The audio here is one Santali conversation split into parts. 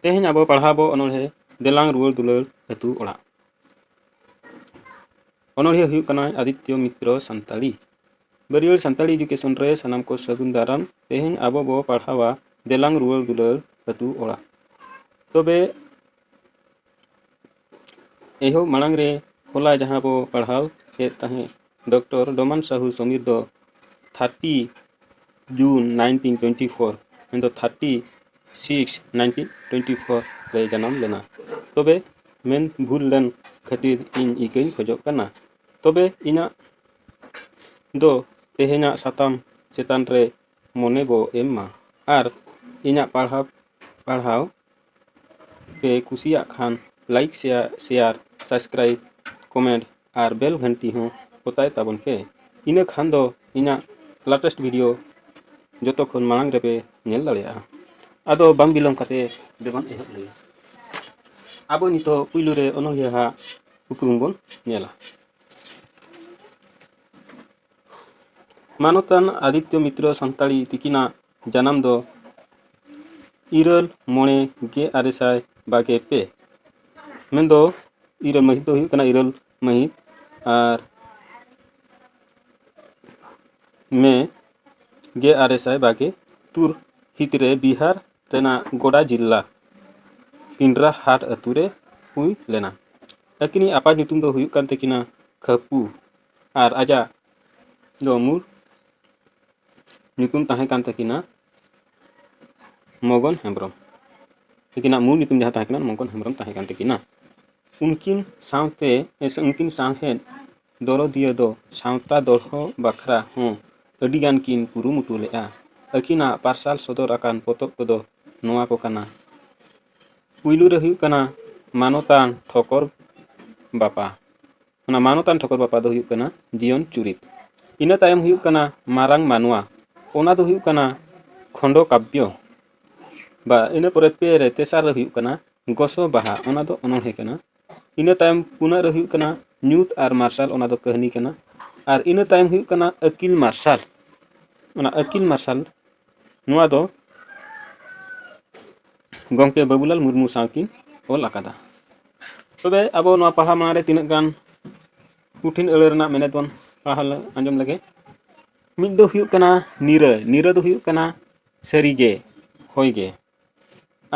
ᱛᱮᱦᱮᱧ ᱟᱵᱚ ᱯᱟᱲᱦᱟᱣ ᱵᱚ ᱚᱱᱚᱬᱦᱮ ᱫᱮᱞᱟᱝ ᱨᱩᱣᱟᱹᱲ ᱫᱩᱞᱟᱹᱲ ᱟᱹᱛᱩ ᱚᱲᱟᱜ ᱚᱱᱚᱬᱦᱮ ᱦᱩᱭᱩᱜ ᱠᱟᱱᱟ ᱟᱫᱤᱛᱭᱚ ᱢᱤᱛᱨᱚ ᱥᱟᱱᱛᱟᱲᱤ ᱵᱟᱹᱨᱭᱟᱹᱲ ᱥᱟᱱᱛᱟᱲᱤ ᱮᱰᱩᱠᱮᱥᱚᱱ ᱨᱮ ᱥᱟᱱᱟᱢ ᱠᱚ ᱥᱟᱹᱜᱩᱱ ᱫᱟᱨᱟᱢ ᱛᱮᱦᱮᱧ ᱟᱵᱚ ᱵᱚ ᱯᱟᱲᱦᱟᱣᱟ ᱫᱮᱞᱟᱝ ᱨᱩᱣᱟᱹᱲ ᱫᱩᱞᱟᱹᱲ ᱟᱹᱛᱩ ᱚᱲᱟᱜ ᱛᱚᱵᱮ ᱮᱦᱚᱵ ᱢᱟᱲᱟᱝ ᱨᱮ ᱦᱚᱞᱟ ᱡᱟᱦᱟᱸ ᱵᱚ ᱯᱟᱲᱦᱟᱣ ᱠᱮᱫ ᱛᱟᱦᱮᱸᱫ ᱰᱚᱠᱴᱚᱨ ᱰᱚᱢᱟᱱ ᱥᱟᱦᱩ ᱥᱚᱢᱤᱨ ᱫᱚ thirty June nineteen twenty four ᱢᱮᱱᱫᱚ thirty six nineteen twenty four ᱨᱮᱭ ᱡᱟᱱᱟᱢ ᱞᱮᱱᱟ ᱛᱚᱵᱮ ᱢᱮᱱ ᱵᱷᱩᱞ ᱞᱮᱱ ᱠᱷᱟᱹᱛᱤᱨ ᱤᱧ ᱤᱠᱟᱹᱧ ᱠᱷᱚᱡᱚᱜ ᱠᱟᱱᱟ ᱛᱚᱵᱮ ᱤᱧᱟᱹᱜ ᱫᱚ ᱛᱮᱦᱮᱧᱟᱜ ᱥᱟᱛᱟᱢ ᱪᱮᱛᱟᱱ ᱨᱮ ᱢᱚᱱᱮ ᱵᱚ ᱮᱢ ᱢᱟ ᱟᱨ ᱤᱧᱟᱹᱜ ᱯᱟᱲᱦᱟᱣ ᱯᱟᱲᱦᱟᱣ ᱯᱮ ᱠᱩᱥᱤᱭᱟᱜ ᱠᱷᱟᱱ like share share subscribe comment ᱟᱨ ᱵᱮᱞ ᱜᱷᱟᱱᱴᱤ ᱦᱚᱸ ᱚᱛᱟᱭ ᱛᱟᱵᱚᱱ ᱯᱮ ᱤᱱᱟᱹ ᱠᱷᱟᱱ ᱫᱚ ᱤᱧᱟᱹᱜ ᱞᱟᱴᱮᱥᱴ ᱵᱷᱤᱰᱤᱭᱳ ᱡᱚᱛᱚ ᱠᱷᱚᱱ ᱢᱟᱲᱟᱝ ᱨᱮᱯᱮ ᱧᱮᱞ ᱫᱟᱲᱮᱭᱟᱜᱼᱟ ᱟᱫᱚ ᱵᱟᱝ ᱵᱤᱞᱚᱢ ᱠᱟᱛᱮ ᱫᱮᱵᱚᱱ ᱮᱦᱚᱵ ᱞᱮᱜᱮ ᱟᱵᱚ ᱱᱤᱛᱚᱜ ᱯᱩᱭᱞᱩ ᱨᱮ ᱚᱱᱚᱞᱤᱭᱟᱹ ᱦᱟᱜ ᱩᱯᱨᱩᱢ ᱵᱚᱱ ᱧᱮᱞᱟ ᱢᱟᱱᱚᱛᱟᱱ ᱟᱫᱤᱛᱭᱚ ᱢᱤᱛᱨᱚ ᱥᱟᱱᱛᱟᱲᱤ ᱛᱤᱠᱤᱱᱟᱜ ᱡᱟᱱᱟᱢ ᱫᱚ ᱤᱨᱟᱹᱞ ᱢᱚᱬᱮ ᱜᱮ ᱟᱨᱮ ᱥᱟᱭ ᱵᱟᱜᱮ ᱯᱮ ᱢᱮᱱᱫᱚ ᱤᱨᱟᱹᱞ ᱢᱟᱹᱦᱤᱛ ᱫᱚ ᱦᱩᱭᱩᱜ ᱠᱟᱱᱟ ᱤᱨᱟᱹᱞ ᱢᱟᱹᱦᱤᱛ ᱟᱨ ᱢᱮ ᱜᱮ ᱟᱨᱮ ᱥᱟᱭ ᱵᱟᱜᱮ ᱛᱩᱨ ᱦᱤᱛ ᱨᱮ ᱵᱤᱦᱟᱨ ᱨᱮᱱᱟᱜ ᱜᱚᱰᱟ ᱡᱤᱞᱞᱟ ᱯᱤᱱᱰᱨᱟ ᱦᱟᱴ ᱟᱹᱛᱩ ᱨᱮ ᱦᱩᱭ ᱞᱮᱱᱟ ᱟᱹᱠᱤᱱᱤᱡ ᱟᱯᱟᱛ ᱧᱩᱛᱩᱢ ᱫᱚ ᱦᱩᱭᱩᱜ ᱠᱟᱱ ᱛᱟᱹᱠᱤᱱᱟ ᱠᱷᱟᱯᱩ ᱟᱨ ᱟᱡᱟᱜ ᱫᱚ ᱢᱩᱞ ᱧᱩᱛᱩᱢ ᱛᱟᱦᱮᱸ ᱠᱟᱱ ᱛᱟᱹᱠᱤᱱᱟ ᱢᱚᱜᱚᱱ ᱦᱮᱢᱵᱨᱚᱢ ᱩᱱᱠᱤᱱᱟᱜ ᱢᱩᱞ ᱧᱩᱛᱩᱢ ᱡᱟᱦᱟᱸ ᱛᱟᱦᱮᱸ ᱠᱟᱱᱟ ᱢᱚᱜᱚᱱ ᱦᱮᱢᱵᱨᱚᱢ ᱛᱟᱦᱮᱸ ᱠᱟᱱ ᱛᱟᱹᱠᱤᱱᱟ ᱩᱱᱠᱤᱱ ᱥᱟᱶᱛᱮ ᱥᱮ ᱩᱱᱠᱤᱱ ᱥᱟᱶᱦᱮᱫ ᱫᱚᱨᱚᱫᱤᱭᱟᱹ ᱫᱚ ᱥᱟᱶᱛᱟ ᱫᱚᱲᱦᱚ ᱵᱟᱠᱷᱨᱟ ᱦᱚᱸ ᱟᱹᱰᱤ ᱜᱟᱱ ᱠᱤᱱ ᱠᱩᱨᱩᱢᱩᱴᱩ ᱞᱮᱫᱼᱟ ᱟᱹᱠᱤᱱᱟᱜ ᱯᱟᱨᱥᱟᱞ ᱥᱚᱫᱚᱨ ᱟᱠᱟᱱ ᱯᱚᱛᱚᱵ ᱠᱚᱫᱚ ᱱᱚᱣᱟ ᱠᱚ ᱠᱟᱱᱟ ᱯᱩᱭᱞᱩ ᱨᱮ ᱦᱩᱭᱩᱜ ᱠᱟᱱᱟ ᱢᱟᱱᱚᱛᱟᱱ ᱴᱷᱚᱠᱚᱨ ᱵᱟᱯᱟ ᱚᱱᱟ ᱢᱟᱱᱚᱛᱟᱱ ᱴᱷᱟᱹᱠᱩᱨ ᱵᱟᱯᱟ ᱫᱚ ᱦᱩᱭᱩᱜ ᱠᱟᱱᱟ ᱡᱤᱭᱚᱱ ᱪᱩᱨᱤᱛ ᱤᱱᱟᱹ ᱛᱟᱭᱚᱢ ᱦᱩᱭᱩᱜ ᱠᱟᱱᱟ ᱢᱟᱨᱟᱝ ᱢᱟᱱᱣᱟ ᱚᱱᱟ ᱫᱚ ᱦᱩᱭᱩᱜ ᱠᱟᱱᱟ ᱠᱷᱚᱸᱰᱚ ᱠᱟᱵᱽᱵᱚ ᱵᱟ ᱤᱱᱟᱹ ᱯᱚᱨᱮ ᱯᱮ ᱨᱮ ᱛᱮᱥᱟᱨ ᱨᱮ ᱦᱩᱭᱩᱜ ᱠᱟᱱᱟ ᱜᱚᱥᱚ ᱵᱟᱦᱟ ᱚᱱᱟ ᱫᱚ ᱚᱱᱚᱬᱦᱮ ᱠᱟᱱᱟ ᱤᱱᱟᱹ ᱛᱟᱭᱚᱢ ᱯᱩᱱᱟᱜ ᱨᱮ ᱦᱩᱭᱩᱜ ᱠᱟᱱᱟ ᱧᱩᱛ ᱟᱨ ᱢᱟᱨᱥᱟᱞ ᱚᱱᱟ ᱫᱚ ᱠᱟᱹᱦᱱᱤ ᱠᱟᱱᱟ ᱟᱨ ᱤᱱᱟᱹ ᱛᱟᱭᱚᱢ ᱦᱩᱭᱩᱜ ᱠᱟᱱᱟ ᱟᱹᱠᱤᱞ ᱢᱟᱨᱥᱟᱞ ᱚᱱᱟ ᱟᱹᱠᱤᱞ ᱢᱟᱨᱥᱟᱞ ᱱᱚᱣᱟ ᱫᱚ ᱜᱚᱢᱠᱮ ᱵᱟᱹᱵᱩᱞᱟᱞ ᱢᱩᱨᱢᱩ ᱥᱟᱶ ᱠᱤᱱ ᱚᱞ ᱟᱠᱟᱫᱟ ᱛᱚᱵᱮ ᱟᱵᱚ ᱱᱚᱣᱟ ᱯᱟᱲᱦᱟᱣ ᱢᱟᱲᱟᱝ ᱨᱮ ᱛᱤᱱᱟᱹᱜ ᱜᱟᱱ ᱠᱩᱴᱷᱤᱱ ᱟᱹᱲᱟᱹ ᱨᱮᱱᱟᱜ ᱢᱮᱱᱮᱛ ᱵᱚᱱ ᱯᱟᱲᱦᱟᱣ ᱟᱸᱡᱚᱢ ᱞᱮᱜᱮ ᱢᱤᱫ ᱫᱚ ᱦᱩᱭᱩᱜ ᱠᱟᱱᱟ ᱱᱤᱨᱟᱹ ᱱᱤᱨᱟᱹ ᱫᱚ ᱦᱩᱭᱩᱜ ᱠᱟᱱᱟ ᱥᱟᱹᱨᱤᱜᱮ ᱦᱳᱭᱜᱮ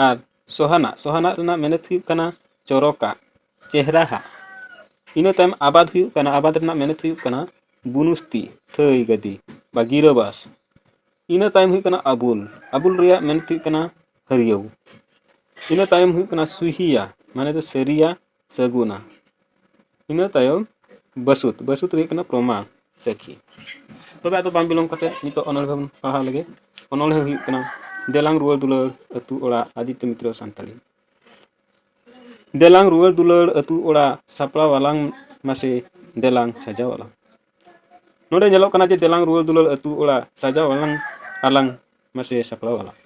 ᱟᱨ ᱥᱚᱦᱟᱱᱟᱜ ᱥᱚᱦᱟᱱᱟᱜ ᱨᱮᱱᱟᱜ ᱢᱮᱱᱮᱛ ᱦᱩᱭᱩᱜ ᱠᱟᱱᱟ ᱪᱚᱨᱚᱠᱟᱜ ᱪᱮᱦᱨᱟᱦᱟᱜ ᱤᱱᱟᱹ ᱛᱟᱭᱚᱢ ᱟᱵᱟᱫ ᱦᱩᱭᱩᱜ ᱠᱟᱱᱟ ᱟᱵᱟᱫ ᱨᱮᱱᱟᱜ ᱢᱮᱱᱮᱛ ᱦᱩᱭᱩᱜ ᱠᱟᱱᱟ ᱵᱩᱱᱩᱥᱛᱤ ᱛᱷᱟᱹᱭ ᱜᱟᱹᱫᱤ ᱵᱟ ᱜᱤᱨᱟᱹᱵᱟᱥ ᱤᱱᱟᱹ ᱛᱟᱭᱚᱢ ᱦᱩᱭᱩᱜ ᱠᱟᱱᱟ ᱟᱵᱩᱞ ᱟᱵᱩᱞ ᱨᱮᱭᱟᱜ ᱢᱮᱱᱮᱛ ᱦᱩᱭᱩᱜ ᱠᱟᱱᱟ ᱦᱟᱹᱨᱭᱟᱹᱣ ᱤᱱᱟᱹ ᱛᱟᱭᱚᱢ ᱦᱩᱭᱩᱜ ᱠᱟᱱᱟ ᱥᱩᱦᱤᱭᱟ ᱢᱟᱱᱮ ᱫᱚ ᱥᱟᱹᱨᱤᱭᱟ ᱥᱟᱹᱜᱩᱱᱟ ᱤᱱᱟᱹ ᱛᱟᱭᱚᱢ ᱵᱟᱹᱥᱩᱫ ᱵᱟᱹᱥᱩᱫ ᱨᱮ ᱦᱩᱭᱩᱜ ᱠᱟᱱᱟ ᱯᱨᱚᱢᱟᱱ ᱥᱟᱹᱠᱷᱤ ᱛᱚᱵᱮ ᱟᱫᱚ ᱵᱟᱝ ᱵᱤᱞᱚᱢ ᱠᱟᱛᱮᱫ ᱱᱤᱛᱚᱜ ᱚᱱᱚᱬᱦᱮ ᱵᱚᱱ ᱯᱟᱲᱦᱟᱣ ᱞᱮᱜᱮ ᱚᱱᱚᱬᱦᱮ ᱦᱩᱭᱩᱜ ᱠᱟᱱᱟ ᱫᱮᱞᱟᱝ ᱨᱩᱣᱟᱹᱲ ᱫᱩᱞᱟᱹᱲ ᱟᱹᱛᱩ ᱚᱲᱟᱜ ᱟᱫᱤᱛᱛᱚ ᱢᱤᱛᱨᱚ ᱥᱟᱱᱛᱟᱲᱤ ᱫᱮᱞᱟᱝ ᱨᱩᱣᱟᱹᱲ ᱫᱩᱞᱟᱹᱲ ᱟᱹᱛᱩ ᱚᱲᱟᱜ ᱥᱟᱯᱲᱟᱣ ᱟᱞᱟᱝ ᱢᱟᱥᱮ ᱫᱮᱞᱟᱝ ᱥᱟᱡᱟᱣ ᱟᱞᱟᱝ ᱱᱚᱰᱮ ᱧᱮᱞᱚᱜ ᱠᱟᱱᱟ ᱡᱮ ᱫᱮᱞᱟᱝ ᱨᱩᱣᱟᱹᱲ ᱫᱩᱞᱟᱹᱲ ᱟᱹᱛᱩ ᱚᱲᱟᱜ ᱥᱟᱡᱟᱣ ᱟᱞᱟᱝ ᱟᱞᱟᱝ ᱢᱟᱥᱮ ᱥᱟᱯᱲᱟᱣ ᱟᱞᱟᱝ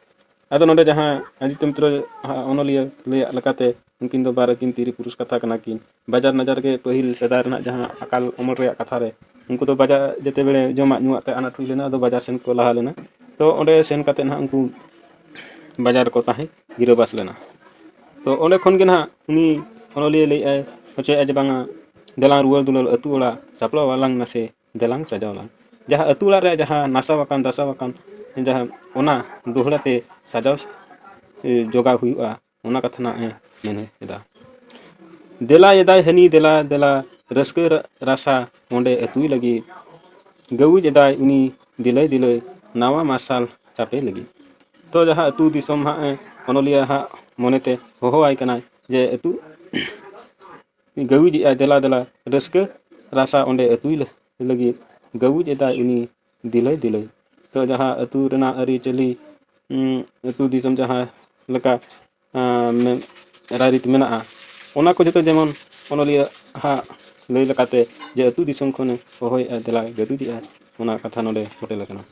ᱟᱫᱚ ᱱᱚᱰᱮ ᱡᱟᱦᱟᱸ ᱟᱫᱤᱛᱭᱚ ᱢᱤᱛᱨᱚ ᱚᱱᱚᱞᱤᱭᱟᱹ ᱞᱟᱹᱭᱟᱜ ᱞᱮᱠᱟᱛᱮ ᱩᱱᱠᱤᱱ ᱫᱚ ᱵᱟᱨ ᱟᱹᱠᱤᱱ ᱛᱤᱨᱤ ᱯᱩᱨᱩᱥ ᱠᱟᱛᱷᱟ ᱠᱟᱱᱟ ᱠᱤᱱ ᱵᱟᱡᱟᱨ ᱱᱟᱡᱟᱨ ᱜᱮ ᱯᱟᱹᱦᱤᱞ ᱥᱮᱫᱟᱭ ᱨᱮᱱᱟᱜ ᱡᱟᱦᱟᱸ ᱟᱠᱟᱞ ᱚᱢᱚᱞ ᱨᱮᱭᱟᱜ ᱠᱟᱛᱷᱟ ᱨᱮ ᱩᱱᱠᱩ ᱫᱚ ᱵᱟᱡᱟᱨ ᱡᱮᱛᱮ ᱵᱮᱲᱮ ᱡᱚᱢᱟᱜ ᱧᱩᱣᱟᱜ ᱛᱮ ᱟᱱᱟᱴ ᱦᱩᱭ ᱞᱮᱱᱟ ᱟᱫᱚ ᱵᱟᱡᱟᱨ ᱥᱮᱱ ᱠᱚ ᱞᱟᱦᱟ ᱞᱮᱱᱟ ᱛᱚ ᱚᱸᱰᱮ ᱥᱮᱱ ᱠᱟᱛᱮᱫ ᱱᱟᱦᱟᱜ ᱩᱱᱠᱩ ᱵᱟᱡᱟᱨ ᱨᱮᱠᱚ ᱛᱟᱦᱮᱸ ᱜᱤᱨᱟᱹᱵᱟᱥ ᱞᱮᱱᱟ ᱛᱚ ᱚᱸᱰᱮ ᱠᱷᱚᱱ ᱜᱮ ᱱᱟᱦᱟᱜ ᱩᱱᱤ ᱚᱱᱚᱞᱤᱭᱟᱹ ᱞᱟᱹᱭᱮᱫ ᱟᱭ ᱦᱚᱪᱚᱭᱮᱫ ᱟᱭ ᱡᱮ ᱵᱟᱝᱟ ᱫᱮᱞᱟᱝ ᱨᱩᱣᱟᱹᱲ ᱫᱩᱞᱟᱹᱲ ᱟᱹᱛᱩ ᱚᱲᱟᱜ ᱥᱟᱯᱲᱟᱣ ᱟᱞᱟᱝ ᱱᱟᱥᱮ ᱫᱮᱞᱟᱝ ᱥᱟᱡᱟᱣ ᱟᱞᱟᱝ ᱡᱟᱦᱟᱸ ᱟᱹᱛᱩ ᱚᱲᱟᱜ ᱨᱮ ᱡᱟᱦᱟᱸ ᱱᱟᱥᱟᱣ ᱟᱠᱟᱱ ᱫᱷᱟᱥᱟᱣ ᱟᱠᱟᱱ ᱡᱟᱦᱟᱸ ᱚᱱᱟ ᱫᱚᱦᱲᱟ ᱛᱮ ᱥᱟᱡᱟᱣ ᱡᱚᱜᱟᱣ ᱦᱩᱭᱩᱜᱼᱟ ᱚᱱᱟ ᱠᱟᱛᱷᱟ ᱦᱟᱸᱜ ᱮ ᱢᱮᱱ ᱮᱫᱟ ᱫᱮᱞᱟ ᱮᱫᱟᱭ ᱦᱟᱹᱱᱤ ᱫᱮᱞᱟ ᱫᱮᱞᱟ ᱨᱟᱹᱥᱠᱟᱹ ᱨᱟᱥᱟ ᱚᱸᱰᱮ ᱟᱹᱛᱩᱭ ᱞᱟᱹᱜᱤᱫ ᱜᱟᱹᱣᱩᱡ ᱮᱫᱟᱭ ᱩᱱᱤ ᱫᱤᱞᱟᱹᱭ ᱫᱤᱞᱟᱹᱭ ᱱᱟᱣᱟ ᱢᱟᱨᱥᱟᱞ ᱪᱟᱯᱮ ᱞᱟᱹᱜᱤᱫ ᱛᱚ ᱡᱟᱦᱟᱸ ᱟᱹᱛᱩ ᱫᱤᱥᱚᱢ ᱦᱟᱸᱜ ᱚᱱᱚᱞᱤᱭᱟᱹ ᱦᱟᱸᱜ ᱢᱚᱱᱮᱛᱮ ᱦᱚᱦᱚᱣᱟᱭ ᱠᱟᱱᱟᱭ ᱡᱮ ᱟᱹᱛᱩ ᱜᱟᱹᱣᱤᱡ ᱮᱫᱟᱭ ᱫᱮᱞᱟ ᱫᱮᱞᱟ ᱨᱟᱹᱥᱠᱟᱹ ᱨᱟᱥᱟ ᱚᱸᱰᱮ ᱟᱹᱛᱩᱭ ᱞᱟᱹᱜᱤᱫ ᱜᱟᱹᱣᱤᱡ ᱮᱫᱟᱭ ᱩᱱᱤ ᱫᱤᱞᱟᱹᱭ ᱫᱤᱞᱟᱹᱭ ᱛᱚ ᱡᱟᱦᱟᱸ ᱟᱹᱛᱩ ᱨᱮᱱᱟᱜ ᱟᱹᱨᱤᱪᱟᱹᱞᱤ ᱟᱹᱛᱩ ᱫᱤᱥᱚᱢ ᱡᱟᱦᱟᱸ ᱞᱮᱠᱟ ᱨᱟᱭᱨᱤᱛ ᱢᱮᱱᱟᱜᱼᱟ ᱚᱱᱟ ᱠᱚ ᱡᱚᱛᱚ ᱡᱮᱢᱚᱱ ᱚᱱᱚᱞᱤᱭᱟᱹ ᱦᱟᱜ ᱞᱟᱹᱭ ᱞᱮᱠᱟᱛᱮ ᱡᱮ ᱟᱹᱛᱩ ᱫᱤᱥᱚᱢ ᱠᱷᱚᱱᱮ ᱦᱚᱦᱚᱭᱮᱫᱼᱟ ᱫᱮᱞᱟ ᱜᱟᱹᱣᱤᱡ ᱮᱫᱟᱭ ᱚᱱᱟ ᱠᱟᱛᱷᱟ ᱱᱚᱰᱮ ᱯᱷᱳᱴᱮᱞ ᱟᱠᱟᱱᱟ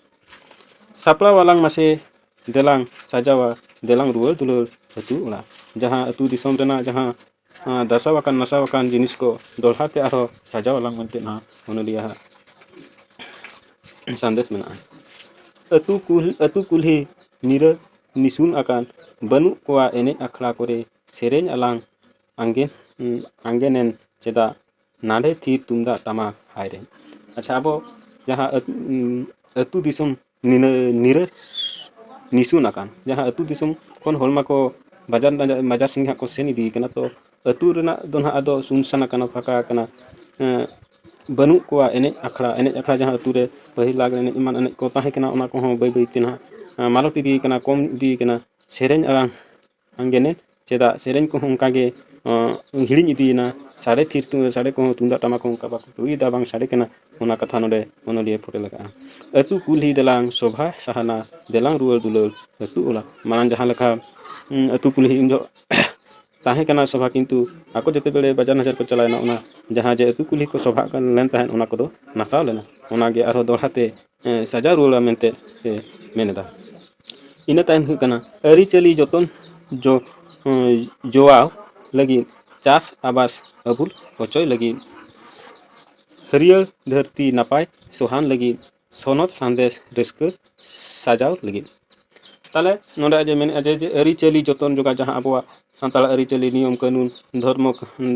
ᱥᱟᱯᱲᱟᱣ ᱟᱞᱟᱝ ᱢᱟᱥᱮ ᱫᱮᱞᱟᱝ ᱥᱟᱡᱟᱣᱟ ᱫᱮᱞᱟᱝ ᱨᱩᱣᱟᱹᱲ ᱫᱩᱞᱟᱹᱲ ᱟᱹᱛᱩ ᱚᱲᱟᱜ ᱡᱟᱦᱟᱸ ᱟᱹᱛᱩ ᱫᱤᱥᱚᱢ ᱨᱮᱱᱟᱜ ᱡᱟᱦᱟᱸ ᱫᱷᱟᱥᱟᱣ ᱟᱠᱟᱱ ᱱᱟᱥᱟᱣ ᱟᱠᱟᱱ ᱡᱤᱱᱤᱥ ᱠᱚ ᱫᱚᱦᱲᱟ ᱛᱮ ᱟᱨᱦᱚᱸ ᱥᱟᱡᱟᱣ ᱟᱞᱟᱝ ᱢᱮᱱᱛᱮ ᱱᱟᱦᱟᱜ ᱚᱱᱚᱞᱤᱭᱟᱹ ᱟᱜ ᱥᱟᱸᱫᱮᱥ ᱢᱮᱱᱟᱜᱼᱟ ᱟᱹᱛᱩ ᱠᱩᱞᱦᱤ ᱟᱹᱛᱩ ᱠᱩᱞᱦᱤ ᱧᱤᱨᱟᱹ ᱱᱤᱥᱩᱱ ᱟᱠᱟᱱ ᱵᱟᱹᱱᱩᱜ ᱠᱚᱣᱟ ᱮᱱᱮᱡ ᱟᱠᱷᱲᱟ ᱠᱚᱨᱮ ᱥᱮᱨᱮᱧ ᱟᱞᱟᱝ ᱟᱸᱜᱮᱱ ᱟᱸᱜᱮᱱᱮᱱ ᱪᱮᱫᱟᱜ ᱱᱟᱰᱮ ᱛᱷᱤᱨ ᱛᱩᱢᱫᱟᱜ ᱴᱟᱢᱟᱠ ᱦᱟᱭᱨᱮ ᱟᱪᱪᱷᱟ ᱟᱵᱚ ᱡᱟᱦᱟᱸ ᱟᱹᱛᱩ ᱫᱤᱥᱚᱢ ᱱᱤᱨᱟᱹ ᱱᱤᱥᱩᱱ ᱟᱠᱟᱱ ᱡᱟᱦᱟᱸ ᱟᱛᱳ ᱫᱤᱥᱚᱢ ᱠᱷᱚᱱ ᱦᱚᱲ ᱢᱟᱠᱚ ᱵᱟᱡᱟᱨ ᱵᱟᱡᱟᱨ ᱥᱮᱱ ᱦᱟᱸᱜ ᱠᱚ ᱥᱮᱱ ᱤᱫᱤ ᱠᱟᱱᱟ ᱛᱚ ᱟᱛᱳ ᱨᱮᱱᱟᱜ ᱫᱚ ᱦᱟᱸᱜ ᱟᱫᱚ ᱥᱩᱱᱥᱟᱱ ᱟᱠᱟᱱᱟ ᱯᱷᱟᱸᱠᱟ ᱟᱠᱟᱱᱟ ᱵᱟᱹᱱᱩᱜ ᱠᱚᱣᱟ ᱮᱱᱮᱡ ᱟᱠᱷᱲᱟ ᱮᱱᱮᱡ ᱟᱠᱷᱲᱟ ᱡᱟᱦᱟᱸ ᱟᱛᱳ ᱨᱮ ᱯᱟᱹᱦᱤᱞ ᱞᱟᱜᱽᱬᱮ ᱮᱱᱮᱡ ᱮᱢᱟᱱ ᱮᱱᱮᱡ ᱠᱚ ᱛᱟᱦᱮᱸ ᱠᱟᱱᱟ ᱚᱱᱟ ᱠᱚᱦᱚᱸ ᱵᱟᱹᱭ ᱵᱟᱹᱭ ᱛᱮ ᱦᱟᱸᱜ ᱢᱟᱞᱚᱴ ᱤᱫᱤ ᱠᱟᱱᱟ ᱠᱚᱢ ᱤᱫᱤ ᱠᱟᱱᱟ ᱥᱮᱨᱮᱧ ᱟᱲᱟᱝ ᱟᱝᱜᱮᱱᱮ ᱪᱮᱫᱟ ᱥᱮᱨᱮᱧ ᱠᱚᱦᱚᱸ ᱚᱱᱠᱟ ᱜᱮ ᱦᱤᱲᱤᱧ ᱤᱫᱤᱭᱮᱱᱟ ᱥᱟᱰᱮ ᱛᱷᱤᱨ ᱛᱮ ᱥᱟᱰᱮ ᱠᱚᱦᱚᱸ ᱛᱩᱢᱫᱟᱜ ᱴᱟᱢᱟᱠ ᱦᱚᱸ ᱚᱱᱠᱟ ᱵᱟᱠᱚ ᱨᱩᱭᱮᱫᱟ ᱵᱟᱝ ᱥᱟᱰᱮ ᱠᱟᱱᱟ ᱚᱱᱟ ᱠᱟᱛᱷᱟ ᱱᱚᱰᱮ ᱚᱱᱚᱞᱤᱭᱟᱹ ᱯᱷᱩᱴᱮᱞ ᱟᱠᱟᱫᱼᱟ ᱟᱹᱛᱩ ᱠᱩᱞᱦᱤ ᱫᱟᱞᱟᱝ ᱥᱚᱵᱷᱟ ᱥᱟᱦᱟᱱᱟ ᱫᱮᱞᱟᱝ ᱨᱩᱣᱟᱹᱲ ᱫᱩᱞᱟᱹᱲ ᱟᱹᱛᱩ ᱚᱲᱟᱜ ᱢᱟᱲᱟᱝ ᱡᱟᱦᱟᱸ ᱞᱮᱠᱟ ᱟᱹᱛᱩ ᱠᱩᱞᱦᱤ ᱩᱱ ᱡᱚᱦᱚᱜ ᱛᱟᱦᱮᱸ ᱠᱟᱱᱟ ᱥᱚᱵᱷᱟ ᱠᱤᱱᱛᱩ ᱟᱠᱚ ᱡᱮᱛᱮ ᱵᱮᱲᱮ ᱵᱟᱡᱟᱨ ᱱᱟᱡᱟᱨ ᱠᱚ ᱪᱟᱞᱟᱣ ᱮᱱᱟ ᱚᱱᱟ ᱡᱟᱦᱟᱸ ᱡᱮ ᱟᱹᱛᱩ ᱠᱩᱞᱦᱤ ᱠᱚ ᱥᱚᱵᱷᱟᱜ ᱠᱟᱱ ᱢᱮᱱ ᱛᱟᱦᱮᱸᱫ ᱚᱱᱟ ᱠᱚᱫᱚ ᱱᱟᱥᱟᱣ ᱞᱮᱱᱟ ᱚᱱᱟ ᱜᱮ ᱟᱨᱦᱚᱸ ᱫᱚᱦᱲᱟ ᱛᱮ ᱥᱟᱡᱟᱣ ᱨᱩᱣᱟᱹᱲᱟ ᱢᱮᱱᱛᱮ ᱮ ᱢᱮᱱ ᱮᱫᱟ ᱤᱱᱟᱹ ᱛᱟᱭᱚᱢ ᱦᱩᱭᱩᱜ ᱠᱟᱱᱟ ᱟᱹᱨᱤᱪᱟᱹᱞᱤ ᱡᱚᱛᱚᱱ ᱡᱚ ᱡᱚᱣᱟᱣ ᱞᱟᱹᱜᱤᱫ ᱪᱟᱥ ᱟᱵᱟᱫ ᱟᱹᱵᱩᱞ ᱦᱚᱪᱚᱭ ᱞᱟᱹᱜᱤᱫ ᱦᱟᱹᱨᱭᱟᱹᱲ ᱫᱷᱟᱹᱨᱛᱤ ᱱᱟᱯᱟᱭ ᱥᱚᱦᱟᱱ ᱞᱟᱹᱜᱤᱫ ᱥᱚᱱᱚᱛ ᱥᱟᱸᱫᱮᱥ ᱨᱟᱹᱥᱠᱟᱹ ᱥᱟᱡᱟᱣ ᱞᱟᱹᱜᱤᱫ ᱛᱟᱦᱚᱞᱮ ᱱᱚᱰᱮ ᱟᱡ ᱮ ᱢᱮᱱᱮᱫᱼᱟ ᱡᱮ ᱟᱹᱨᱤᱪᱟᱹᱞᱤ ᱡᱚᱛᱚᱱ ᱡᱚᱜᱟᱣ ᱡᱟᱦᱟᱸ ᱟᱵᱚᱣᱟᱜ ᱥᱟᱱᱛᱟᱲ ᱟᱹᱨᱤᱪᱟᱹᱞᱤ ᱱᱤᱭᱚᱢ ᱠᱟᱹᱱᱩᱱ ᱫᱷᱚᱨᱢᱚ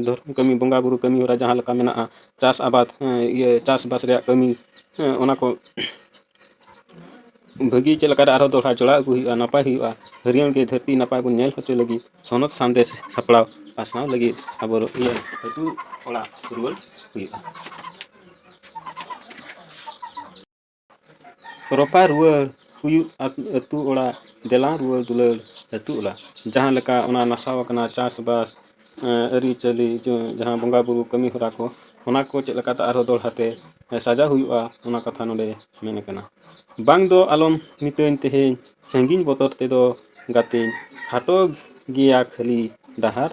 ᱫᱷᱚᱨᱚᱢ ᱠᱟᱹᱢᱤ ᱵᱚᱸᱜᱟᱼᱵᱩᱨᱩ ᱠᱟᱹᱢᱤ ᱦᱚᱨᱟ ᱡᱟᱦᱟᱸ ᱞᱮᱠᱟ ᱢᱮᱱᱟᱜᱼᱟ ᱪᱟᱥ ᱟᱵᱟᱫ ᱤᱭᱟᱹ ᱪᱟᱥᱵᱟᱥ ᱨᱮᱭᱟᱜ ᱠᱟᱹᱢᱤ ᱚᱱᱟ ᱠᱚ ᱵᱷᱟᱹᱜᱤ ᱪᱮᱫ ᱞᱮᱠᱟᱨᱮ ᱟᱨᱦᱚᱸ ᱫᱚᱦᱲᱟ ᱡᱚᱲᱟᱣ ᱟᱹᱜᱩ ᱦᱩᱭᱩᱜᱼᱟ ᱱᱟᱯᱟᱭ ᱦᱩᱭᱩᱜᱼᱟ ᱦᱟᱹᱨᱭᱟᱹᱲ ᱜᱮ ᱫᱷᱟᱹᱨᱛᱤ ᱱᱟᱯᱟᱭ ᱵᱚᱱ ᱧᱮᱞ ᱦᱚᱪᱚᱭ ᱞᱟᱹᱜᱤᱫ ᱥᱚᱱᱚᱛ ᱥᱟᱸᱫᱮᱥ ᱥᱟᱯᱲᱟᱣ ᱯᱟᱥᱱᱟᱣ ᱞᱟᱹᱜᱤᱫ ᱟᱵᱚ ᱤᱭᱟᱹ ᱟᱹᱛᱩ ᱚᱲᱟᱜ ᱨᱩᱣᱟᱹᱲ ᱦᱩᱭᱩᱜᱼᱟ ᱨᱚᱯᱟ ᱨᱩᱣᱟᱹᱲ ᱦᱩᱭᱩᱜ ᱟᱹᱛᱩ ᱚᱲᱟᱜ ᱫᱮᱞᱟ ᱨᱩᱣᱟᱹᱲ ᱫᱩᱞᱟᱹᱲ ᱟᱹᱛᱩ ᱚᱲᱟᱜ ᱡᱟᱦᱟᱸ ᱞᱮᱠᱟ ᱚᱱᱟ ᱱᱟᱥᱟᱣ ᱟᱠᱟᱱᱟ ᱪᱟᱥᱵᱟᱥ ᱟᱹᱨᱤᱪᱟᱹᱞᱤ ᱡᱟᱦᱟᱸ ᱵᱚᱸᱜᱟᱼᱵᱩᱨᱩ ᱠᱟᱹᱢᱤᱦᱚᱨᱟ ᱠᱚ ᱚᱱᱟ ᱠᱚ ᱪᱮᱫ ᱞᱮᱠᱟᱛᱮ ᱟᱨᱦᱚᱸ ᱫᱚᱦᱲᱟ ᱛᱮ ᱥᱟᱡᱟᱣ ᱦᱩᱭᱩᱜᱼᱟ ᱚᱱᱟ ᱠᱟᱛᱷᱟ ᱱᱚᱰᱮ ᱢᱮᱱ ᱟᱠᱟᱱᱟ ᱵᱟᱝ ᱫᱚ ᱟᱞᱚᱢ ᱢᱤᱛᱟᱹᱧ ᱛᱮᱦᱮᱧ ᱥᱟᱺᱜᱤᱧ ᱵᱚᱛᱚᱨ ᱛᱮᱫᱚ ᱜᱟᱛᱮᱧ ᱠᱷᱟᱴᱚ ᱜᱮᱭᱟ ᱠᱷᱟᱹᱞᱤ ᱰᱟᱦᱟᱨ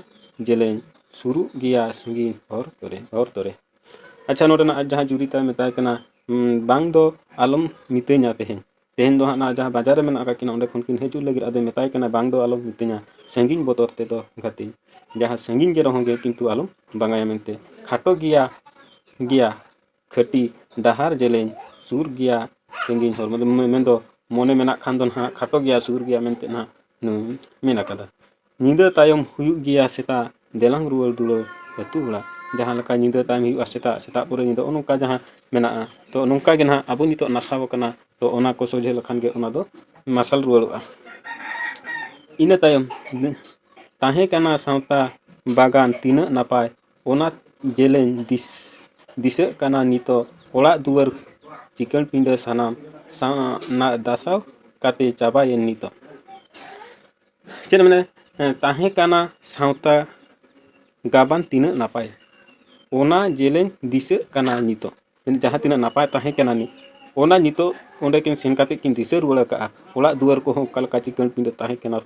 ᱡᱮᱞᱮᱧ ᱥᱩᱨᱩᱜ ᱜᱮᱭᱟ ᱥᱟᱺᱜᱤᱧ ᱦᱚᱨ ᱠᱚᱨᱮ ᱦᱚᱨ ᱠᱚᱨᱮ ᱟᱪᱪᱷᱟ ᱱᱚᱰᱮᱱᱟᱜ ᱡᱟᱦᱟᱸ ᱡᱩᱨᱤ ᱛᱟᱭ ᱢᱮᱛᱟᱭ ᱠᱟᱱᱟ ᱵᱟᱝ ᱫᱚ ᱟᱞᱚᱢ ᱢᱤᱛᱟᱹᱧᱟ ᱛᱮᱦᱮᱧ ᱛᱮᱦᱮᱧ ᱫᱚ ᱦᱟᱸᱜ ᱱᱟ ᱡᱟᱦᱟᱸ ᱵᱟᱡᱟᱨ ᱨᱮ ᱢᱮᱱᱟᱜ ᱟᱠᱟᱫ ᱠᱤᱱᱟ ᱚᱸᱰᱮ ᱠᱷᱚᱱ ᱠᱤᱱ ᱦᱤᱡᱩᱜ ᱞᱟᱹᱜᱤᱫ ᱟᱫᱚᱭ ᱢᱮᱛᱟᱭ ᱠᱟᱱᱟ ᱵᱟᱝ ᱫᱚ ᱟᱞᱚᱢ ᱢᱤᱛᱟᱹᱧᱟ ᱥᱟᱺᱜᱤᱧ ᱵᱚᱛᱚᱨ ᱛᱮᱫᱚ ᱜᱟᱛᱮ ᱡᱟᱦᱟᱸ ᱥᱟᱺᱜᱤᱧ ᱜᱮ ᱨᱮᱦᱚᱸ ᱜᱮ ᱠᱤᱱᱛᱩ ᱟᱞᱚᱢ ᱵᱟᱝᱟᱭᱟ ᱢᱮᱱᱛᱮ ᱠᱷᱟᱴᱚ ᱜᱮᱭᱟ ᱜᱮᱭᱟ ᱠᱷᱟᱹᱴᱤ ᱰᱟᱦᱟᱨ ᱡᱮᱞᱮᱧ ᱥᱩᱨ ᱜᱮᱭᱟ ᱥᱟᱺᱜᱤᱧ ᱦᱚᱨ ᱢᱮᱱᱫᱚ ᱢᱚᱱᱮ ᱢᱮᱱᱟᱜ ᱠᱷᱟᱱ ᱫᱚ ᱱᱟᱦᱟᱜ ᱠᱷᱟᱴᱚ ᱜᱮᱭᱟ ᱥᱩᱨ ᱜᱮᱭᱟ ᱢᱮᱱᱛᱮ ᱱᱟᱦᱟᱜ ᱱᱩᱭ ᱢᱮᱱ ᱟᱠᱟᱫᱟ ᱧᱤᱫᱟᱹ ᱛᱟᱭᱚᱢ ᱦᱩᱭᱩᱜ ᱜᱮᱭᱟ ᱥᱮᱛᱟᱜ ᱫᱮᱞᱟᱝ ᱨᱩᱣᱟᱹᱲ ᱫᱩᱣᱟᱹᱨ ᱟᱹᱛᱩ ᱚᱲᱟᱜ ᱡᱟᱦᱟᱸ ᱞᱮᱠᱟ ᱧᱤᱫᱟᱹ ᱛᱟᱭᱚᱢ ᱦᱩᱭᱩᱜᱼᱟ ᱥᱮᱛᱟᱜ ᱥᱮᱛᱟᱜ ᱯᱚᱨᱮ ᱧᱤᱫᱟᱹ ᱱᱚᱜᱼᱚ ᱱᱚᱝᱠᱟ ᱡᱟᱦᱟᱸ ᱢᱮᱱᱟᱜᱼᱟ ᱛᱚ ᱱᱚᱝᱠᱟ ᱜᱮ ᱱᱟᱦᱟᱜ ᱟᱵᱚ ᱱᱤᱛᱚᱜ ᱱᱟᱥᱟᱣ ᱠᱟᱱᱟ ᱛᱚ ᱚᱱᱟ ᱠᱚ ᱥᱚᱡᱷᱮ ᱞᱮᱠᱷᱟᱱ ᱜᱮ ᱚᱱᱟ ᱫᱚ ᱢᱟᱨᱥᱟᱞ ᱨᱩᱣᱟᱹᱲᱚᱜᱼᱟ ᱤᱱᱟᱹ ᱛᱟᱭᱚᱢ ᱛᱟᱦᱮᱸ ᱠᱟᱱᱟ ᱥᱟᱶᱛᱟ ᱵᱟᱜᱟᱱ ᱛᱤᱱᱟᱹᱜ ᱱᱟᱯᱟᱭ ᱚᱱᱟ ᱡᱮᱞᱮᱧ ᱫᱤᱥ ᱫᱤᱥᱟᱹᱜ ᱠᱟᱱᱟ ᱱᱤᱛᱚᱜ ᱚᱲᱟᱜ ᱫᱩᱣᱟᱹᱨ ᱪᱤᱠᱟᱹᱲ ᱯᱤᱸᱰᱟᱹ ᱥᱟᱱᱟᱢ ᱥᱟᱶ ᱱᱟᱜ ᱫᱟᱥᱟᱣ ᱠᱟᱛᱮᱫ ᱪᱟᱵᱟᱭᱮᱱ ᱱᱤᱛᱚᱜ ᱪᱮᱫ ᱢᱮᱱᱟ ᱛᱟᱦᱮᱸ ᱠᱟᱱᱟ ᱥᱟᱶᱛᱟ ᱜᱟᱵᱟᱱ ᱛᱤᱱᱟᱹᱜ ᱱᱟᱯᱟᱭ ᱚᱱᱟ ᱡᱮᱞᱮᱧ ᱫᱤᱥᱟᱹᱜ ᱠᱟᱱᱟ ᱱᱤᱛᱚᱜ ᱡᱟᱦᱟᱸ ᱛᱤᱱᱟᱹᱜ ᱱᱟᱯᱟᱭ ᱛᱟᱦᱮᱸ ᱠᱟᱱᱟ ᱱᱤᱛ ᱚᱱᱟ ᱱᱤᱛᱚᱜ ᱚᱸᱰᱮ ᱠᱤᱱ ᱥᱮᱱ ᱠᱟᱛᱮᱫ ᱠᱤᱱ ᱫᱤᱥᱟᱹ ᱨᱩᱣᱟᱹᱲ ᱠᱟᱜᱼᱟ ᱚᱲᱟᱜ ᱫᱩᱣᱟᱹᱨ ᱠᱚᱦᱚᱸ ᱚᱠᱟ ᱞᱮᱠᱟ ᱪᱤᱠᱟᱹᱬ ᱯᱤᱸᱰᱟᱹ ᱛᱟᱦᱮᱸ ᱠᱟᱱᱟ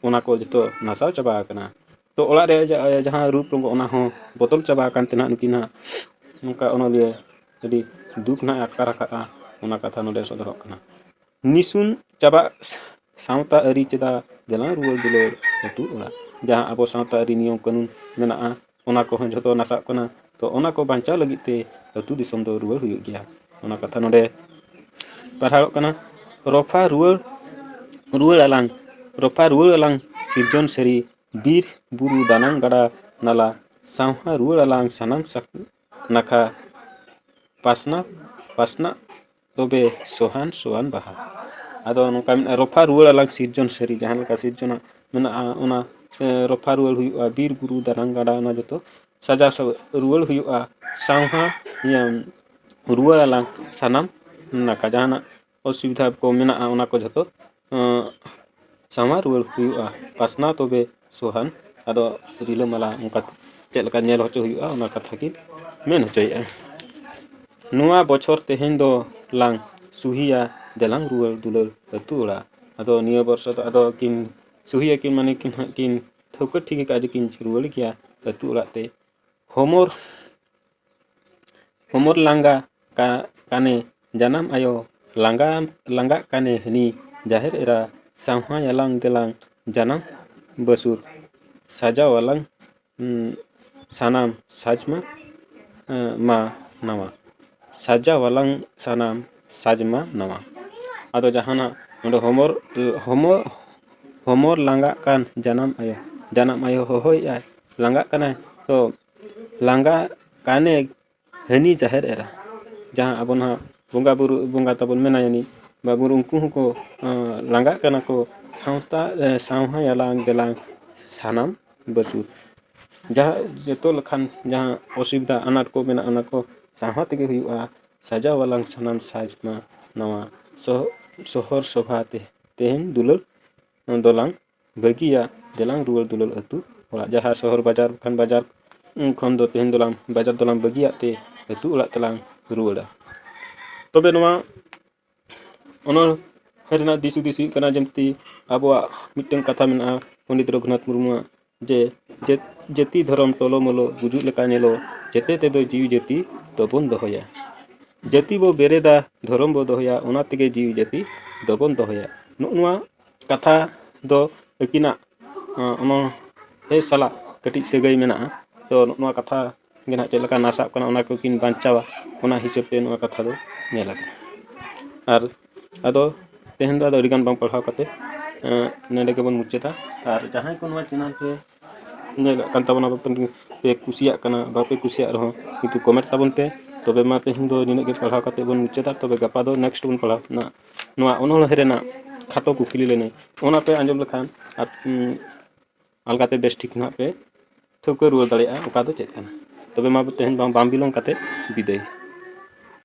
ᱚᱱᱟ ᱠᱚ ᱡᱚᱛᱚ ᱱᱟᱥᱟᱣ ᱪᱟᱵᱟ ᱟᱠᱟᱱᱟ ᱛᱚ ᱚᱲᱟᱜ ᱨᱮ ᱡᱟᱦᱟᱸ ᱨᱩᱯ ᱨᱚᱝᱜᱚ ᱚᱱᱟ ᱦᱚᱸ ᱵᱚᱫᱚᱞ ᱪᱟᱵᱟ ᱟᱠᱟᱱ ᱛᱮ ᱦᱟᱸᱜ ᱱᱩᱠᱤᱱᱟᱜ ᱱᱚᱝᱠᱟ ᱚᱱᱚᱞᱤᱭᱟᱹ ᱟᱹᱰᱤ ᱫᱩᱠ ᱦᱟᱸᱜ ᱮ ᱟᱴᱠᱟᱨ ᱟᱠᱟᱫᱼᱟ ᱚᱱᱟ ᱠᱟᱛᱷᱟ ᱱᱚᱰᱮ ᱥᱚᱫᱚᱨᱚᱜ ᱠᱟᱱᱟ ᱱᱤᱥᱩᱱ ᱪᱟᱵᱟᱜ ᱥᱟᱶᱛᱟ ᱟᱹᱨᱤ ᱪᱮᱫᱟᱜ ᱫᱮᱞᱟ ᱨᱩᱣᱟᱹᱲ ᱫᱩᱞᱟᱹᱲ ᱟᱛᱳ ᱚᱲᱟᱜ ᱡᱟᱦᱟᱸ ᱟᱵᱚ ᱥᱟᱶᱛᱟ ᱟᱹᱨᱤ ᱱᱤᱭᱚᱢ ᱠᱟᱹᱱᱩᱱ ᱢᱮᱱᱟᱜᱼᱟ ᱚᱱᱟ ᱠᱚᱦᱚᱸ ᱡᱚᱛᱚ ᱱᱟᱥᱟᱜ ᱠᱟᱱᱟ ᱛᱚ ᱚᱱᱟ ᱠᱚ ᱵᱟᱧᱪᱟᱣ ᱞᱟᱹᱜᱤᱫ ᱛᱮ ᱟᱛᱳ ᱫᱤᱥᱚᱢ ᱫᱚ ᱨᱩᱣᱟᱹᱲ ᱦᱩᱭᱩᱜ ᱜᱮᱭᱟ ᱚᱱᱟ ᱠᱟᱛᱷᱟ ᱱᱚᱰᱮ ᱯᱟᱲᱦᱟᱣᱚᱜ ᱠᱟᱱᱟ ᱨᱚᱯᱷᱟ ᱨᱩᱣᱟᱹᱲ ᱨᱩᱣᱟᱹᱲ ᱟᱞᱟᱝ ᱨᱚᱯᱷᱟ ᱨᱩᱣᱟᱹᱲ ᱟᱞᱟᱝ ᱥᱤᱨᱡᱚᱱ ᱥᱟᱹᱨᱤ ᱵᱤᱨ ᱵᱩᱨᱩ ᱫᱟᱱᱟᱝ ᱜᱟᱰᱟ ᱱᱟᱞᱟ ᱥᱟᱶᱦᱟ ᱨᱩᱣᱟᱹᱲ ᱟᱞᱟᱝ ᱥᱟᱱᱟᱢ ᱱᱟᱠᱷᱟ ᱯᱟᱥᱱᱟ ᱯᱟᱥᱱᱟ ᱛᱚᱵᱮ ᱥᱚᱦᱟᱱ ᱥᱚᱦᱟᱱ ᱵᱟᱦᱟ ᱟᱫᱚ ᱱᱚᱝᱠᱟ ᱢᱮᱱᱟᱜᱼᱟ ᱨᱚᱯᱷᱟ ᱨᱩᱣᱟᱹᱲ ᱟᱞᱟᱝ ᱥᱤᱨᱡᱚᱱ ᱥᱟᱹᱨᱤ ᱡᱟᱦᱟᱸ ᱞᱮᱠᱟ ᱥᱤᱨᱡᱚᱱᱟᱜ ᱢᱮᱱᱟᱜᱼᱟ ᱚᱱᱟ ᱨᱚᱯᱷᱟ ᱨᱩᱣᱟᱹᱲ ᱦᱩᱭᱩᱜᱼᱟ ᱵᱤᱨ ᱵᱩᱨᱩ ᱫᱟᱱᱟᱝ ᱜᱟᱰᱟ ᱚᱱᱟ ᱡᱚᱛᱚ ᱥᱟᱡᱟᱣ ᱨᱩᱣᱟᱹᱲ ᱦᱩᱭᱩᱜᱼᱟ ᱥᱟᱶᱦᱟ ᱤᱭᱟᱹ ᱨᱩᱣᱟᱹᱲ ᱟᱞᱟᱝ ᱥᱟᱱᱟᱢ ᱱᱟᱠᱷᱟ ᱡᱟᱦᱟᱱᱟᱜ ᱚᱥᱩᱵᱤᱫᱷᱟ ᱠᱚ ᱢᱮᱱᱟᱜᱼᱟ ᱚᱱᱟ ᱠᱚ ᱡᱷᱚᱛᱚ ᱥᱟᱶᱟᱨ ᱨᱩᱣᱟᱹᱲ ᱦᱩᱭᱩᱜᱼᱟ ᱯᱟᱥᱱᱟᱣ ᱛᱚᱵᱮ ᱥᱚᱦᱟᱱ ᱟᱫᱚ ᱨᱤᱞᱟᱹᱢᱟᱞᱟ ᱚᱱᱠᱟ ᱪᱮᱫ ᱞᱮᱠᱟ ᱧᱮᱞ ᱦᱚᱪᱚ ᱦᱩᱭᱩᱜᱼᱟ ᱚᱱᱟ ᱠᱟᱛᱷᱟ ᱜᱮ ᱢᱮᱱ ᱦᱚᱪᱚᱭᱮᱜᱼᱟ ᱱᱚᱣᱟ ᱵᱚᱪᱷᱚᱨ ᱛᱮᱦᱮᱧ ᱫᱚ ᱞᱟᱝ ᱥᱩᱦᱤᱭᱟ ᱫᱮᱞᱟᱝ ᱨᱩᱣᱟᱹᱲ ᱫᱩᱞᱟᱹᱲ ᱟᱹᱛᱩ ᱚᱲᱟᱜ ᱟᱫᱚ ᱱᱤᱭᱟᱹ ᱵᱚᱨᱥᱚ ᱫᱚ ᱟᱫᱚ ᱠᱤᱱ ᱥᱩᱦᱤᱭᱟ ᱠᱤᱱ ᱢᱟᱱᱮ ᱠᱤᱱ ᱦᱟᱸᱜ ᱠᱤᱱ ᱴᱷᱟᱹᱣᱠᱟᱹ ᱴᱷᱤᱠ ᱠᱟᱜᱼᱟ ᱡᱮᱠᱤᱱ ᱨᱩᱣᱟᱹᱲ ᱜᱮᱭᱟ ᱟᱹᱛᱩ ᱚᱲᱟᱜ ᱛᱮ ᱦᱚᱢᱚᱨ ᱦᱚᱢᱚᱨ ᱞᱟᱸᱜᱟ ᱠᱟᱱᱮ ᱡᱟᱱᱟᱢ ᱟᱭᱳ ᱞᱟᱸᱜᱟ ᱞᱟᱸᱜᱟᱜ ᱠᱟᱱᱮ ᱦᱟᱹᱱᱤ ᱡᱟᱦᱮᱨ ᱮᱨᱟ ᱥᱟᱶᱦᱟᱭ ᱟᱞᱟᱝ ᱫᱮᱞᱟᱝ ᱡᱟᱱᱟᱢ ᱵᱟᱹᱥᱩᱨ ᱥᱟᱡᱟᱣ ᱟᱞᱟᱝ ᱥᱟᱱᱟᱢ ᱥᱟᱡᱽ ᱢᱟ ᱢᱟ ᱱᱟᱣᱟ ᱥᱟᱡᱟᱣ ᱟᱞᱟᱝ ᱥᱟᱱᱟᱢ ᱥᱟᱡᱽ ᱢᱟ ᱱᱟᱣᱟ ᱟᱫᱚ ᱡᱟᱦᱟᱱᱟᱜ ᱱᱚᱰᱮ ᱦᱚᱢᱚᱨ ᱦᱚᱢᱚᱨ ᱦᱚᱢᱚᱨ ᱞᱟᱸᱜᱟᱜ ᱠᱟᱱ ᱡᱟᱱᱟᱢ ᱟᱭᱳ ᱡᱟᱱᱟᱢ ᱟᱭᱳ ᱦᱚᱦᱚᱭᱮᱜᱼᱟᱭ ᱞᱟᱸᱜᱟᱜ ᱠᱟᱱᱟᱭ ᱛᱚ ᱞᱟᱸᱜᱟ ᱠᱟᱱᱮ ᱦᱟᱹᱱᱤ ᱡᱟᱦᱮᱨ ᱮᱨᱟ ᱡᱟᱦᱟᱸ ᱟᱵᱚ ᱱᱚᱣᱟ ᱵᱚᱸᱜᱟ ᱵᱳᱨᱳ ᱵᱚᱸᱜᱟ ᱛᱟᱵᱚᱱ ᱢᱮᱱᱟᱭᱟ ᱩᱱᱤ ᱵᱚᱸᱜᱟ ᱵᱳᱨᱳ ᱩᱱᱠᱩ ᱦᱚᱸᱠᱚ ᱞᱟᱸᱜᱟᱜ ᱠᱟᱱᱟ ᱠᱚ ᱥᱟᱶᱛᱟ ᱥᱟᱶᱦᱟᱭᱟᱞᱟᱝ ᱫᱮᱞᱟᱝ ᱥᱟᱱᱟᱢ ᱵᱟᱹᱡᱩᱱ ᱡᱟᱦᱟᱸ ᱡᱚᱛᱚ ᱞᱮᱠᱟᱱ ᱡᱟᱦᱟᱸ ᱚᱥᱩᱵᱤᱫᱷᱟ ᱟᱱᱟᱴ ᱠᱚ ᱢᱮᱱᱟᱜᱼᱟ ᱚᱱᱟ ᱠᱚ ᱥᱟᱦᱟ ᱛᱮᱜᱮ ᱦᱩᱭᱩᱜᱼᱟ ᱥᱟᱡᱟᱣ ᱟᱞᱟᱝ ᱥᱟᱱᱟᱢ ᱥᱟᱡᱽ ᱢᱟ ᱱᱚᱣᱟ ᱥᱚᱦᱚᱨ ᱥᱚᱵᱷᱟ ᱛᱮ ᱛᱮᱦᱮᱧ ᱫᱩᱞᱟᱹᱲ ᱫᱚᱞᱟᱝ ᱵᱟᱹᱜᱤᱭᱟ ᱫᱮᱞᱟᱝ ᱨᱩᱣᱟᱹᱲ ᱫᱩᱞᱟᱹᱲ ᱟᱹᱛᱩ ᱚᱲᱟᱜ ᱡᱟᱦᱟᱸ ᱥᱚᱦᱚᱨ ᱵᱟᱡᱟᱨ ᱠᱷᱚᱱ ᱵᱟᱡᱟᱨ ᱠᱷᱚᱱ ᱫᱚ ᱛᱮᱦᱮᱧ ᱫᱚᱞᱟᱝ ᱵᱟᱡᱟᱨ ᱫᱚᱞᱟᱝ ᱵᱟᱹᱜᱤᱭᱟᱜ ᱛᱮ ᱟᱹᱛᱩ ᱚᱲᱟᱜ ᱛᱮᱞᱟᱝ ᱨᱩᱣᱟᱹᱲᱟ ᱛᱚᱵᱮ ᱱᱚᱣᱟ ᱚᱱᱚᱬᱦᱮ ᱨᱮᱱᱟᱜ ᱫᱤᱥ ᱦᱩᱫᱤᱥ ᱦᱩᱭᱩᱜ ᱠᱟᱱᱟ ᱡᱮᱢᱛᱤ ᱟᱵᱚᱣᱟᱜ ᱢᱤᱫᱴᱟᱝ ᱠᱟᱛᱷᱟ ᱢᱮᱱᱟᱜᱼᱟ ᱯᱚᱱᱰᱤᱛ ᱨᱚᱜᱷᱩᱱᱟᱛᱷ ᱢᱩᱨᱢᱩᱣᱟᱜ ᱡᱮ ᱡᱟᱹᱛᱤ ᱫᱷᱚᱨᱚᱢ ᱴᱚᱞᱚ ᱢᱚᱞᱚ ᱜᱩᱡᱩᱜ ᱞᱮᱠᱟ ᱧᱮᱞᱚ ᱡᱮᱛᱮ ᱛᱮᱫᱚ ᱡᱤᱣᱤ ᱡᱟᱹᱛᱤ ᱫᱚᱵᱚᱱ ᱫᱚᱦᱚᱭᱟ ᱡᱟᱹᱛᱤ ᱵᱚ ᱵᱮᱨᱮᱫᱟ ᱫᱷᱚᱨᱚᱢ ᱵᱚ ᱫᱚᱦᱚᱭᱟ ᱚᱱᱟ ᱛᱮᱜᱮ ᱡᱤᱣᱤ ᱡᱟᱹᱛᱤ ᱫᱚᱵᱚᱱ ᱫᱚᱦᱚᱭᱟ ᱱᱚᱜᱼᱚ ᱱᱚᱣᱟ ᱠᱟᱛᱷᱟ ᱫᱚ ᱟᱹᱠᱤᱱᱟᱜ ᱚᱱᱟ ᱫᱮᱥ ᱥᱟᱞᱟᱜ ᱠᱟᱹᱴᱤᱡ ᱥᱟᱹᱜᱟᱹᱭ ᱢᱮᱱᱟᱜᱼᱟ ᱛᱚ ᱱᱚᱣᱟ ᱠᱟᱛᱷᱟ ᱜᱮ ᱦᱟᱸᱜ ᱪᱮᱫ ᱞᱮᱠᱟ ᱱᱟᱥᱟᱜ ᱠᱟᱱᱟ ᱚᱱᱟ ᱠᱚᱠᱤᱱ ᱵᱟᱧᱪᱟᱣᱟ ᱚᱱᱟ ᱦᱤᱥᱟᱹᱵ ᱛᱮ ᱱᱚᱣᱟ ᱠᱟᱛᱷᱟ ᱫᱚ ᱧᱮᱞ ᱟᱠᱟᱱᱟ ᱟᱨ ᱟᱫᱚ ᱛᱮᱦᱮᱧ ᱫᱚ ᱟᱹᱰᱤ ᱜᱟᱱ ᱵᱟᱝ ᱯᱟᱲᱦᱟᱣ ᱠᱟᱛᱮ ᱱᱚᱰᱮ ᱜᱮᱵᱚᱱ ᱢᱩᱪᱟᱹᱫᱟ ᱟᱨ ᱡᱟᱦᱟᱸᱭ ᱠᱚ ᱱᱚᱣᱟ ᱪᱮᱱᱮᱞ ᱨᱮ ᱧᱮᱞᱮᱫ ᱠᱟᱱ ᱛᱟᱵᱚᱱᱟ ᱯᱮ ᱠᱩᱥᱤᱭᱟᱜ ᱠᱟᱱᱟ ᱵᱟᱯᱮ ᱠᱩᱥᱤᱭᱟᱜ ᱨᱮᱦᱚᱸ ᱠᱤᱱᱛᱩ ᱠᱚᱢᱮᱱᱴ ᱛᱟᱵᱚᱱ ᱯᱮ ᱛᱚᱵᱮ ᱢᱟ ᱛᱮᱦᱮᱧ ᱫᱚ ᱱᱤᱱᱟᱹᱜ ᱜᱮ ᱯᱟᱲᱦᱟᱣ ᱠᱟᱛᱮ ᱵᱚᱱ ᱢᱩᱪᱟᱹᱫᱟ ᱛᱚᱵᱮ ᱜᱟᱯᱟ ᱫᱚ ᱱᱮᱠᱥᱴ ᱵᱚᱱ ᱯᱟᱲᱦᱟᱣ ᱱᱟᱜ ᱱᱚᱣᱟ ᱚᱱᱚᱬᱦᱮ ᱨᱮᱱᱟᱜ ᱠᱷᱟᱴᱚ ᱠᱩᱠᱞᱤ ᱞᱟᱹᱱᱟᱹᱭ ᱚᱱᱟ ᱯᱮ ᱟᱸᱡᱚᱢ ᱞᱮᱠᱷᱟᱱ ᱟᱨ ᱟᱞᱜᱟᱛᱮ ᱵᱮᱥ ᱴᱷᱤᱠ ᱱᱟᱦᱟᱜ ᱯᱮ ᱴᱷᱟᱹᱣᱠᱟᱹ ᱨᱩᱣᱟᱹᱲ ᱫᱟᱲᱮᱭᱟᱜᱼᱟ ᱚᱠᱟ ᱫᱚ ᱪᱮᱫ ᱠᱟᱱᱟ ᱛᱚᱵᱮ ᱢᱟ ᱛᱮᱦᱮᱧ ᱫᱚ ᱵᱟᱝ ᱵᱤᱞᱚᱢ ᱠᱟᱛᱮᱫ ᱵᱤᱫᱟᱹᱭ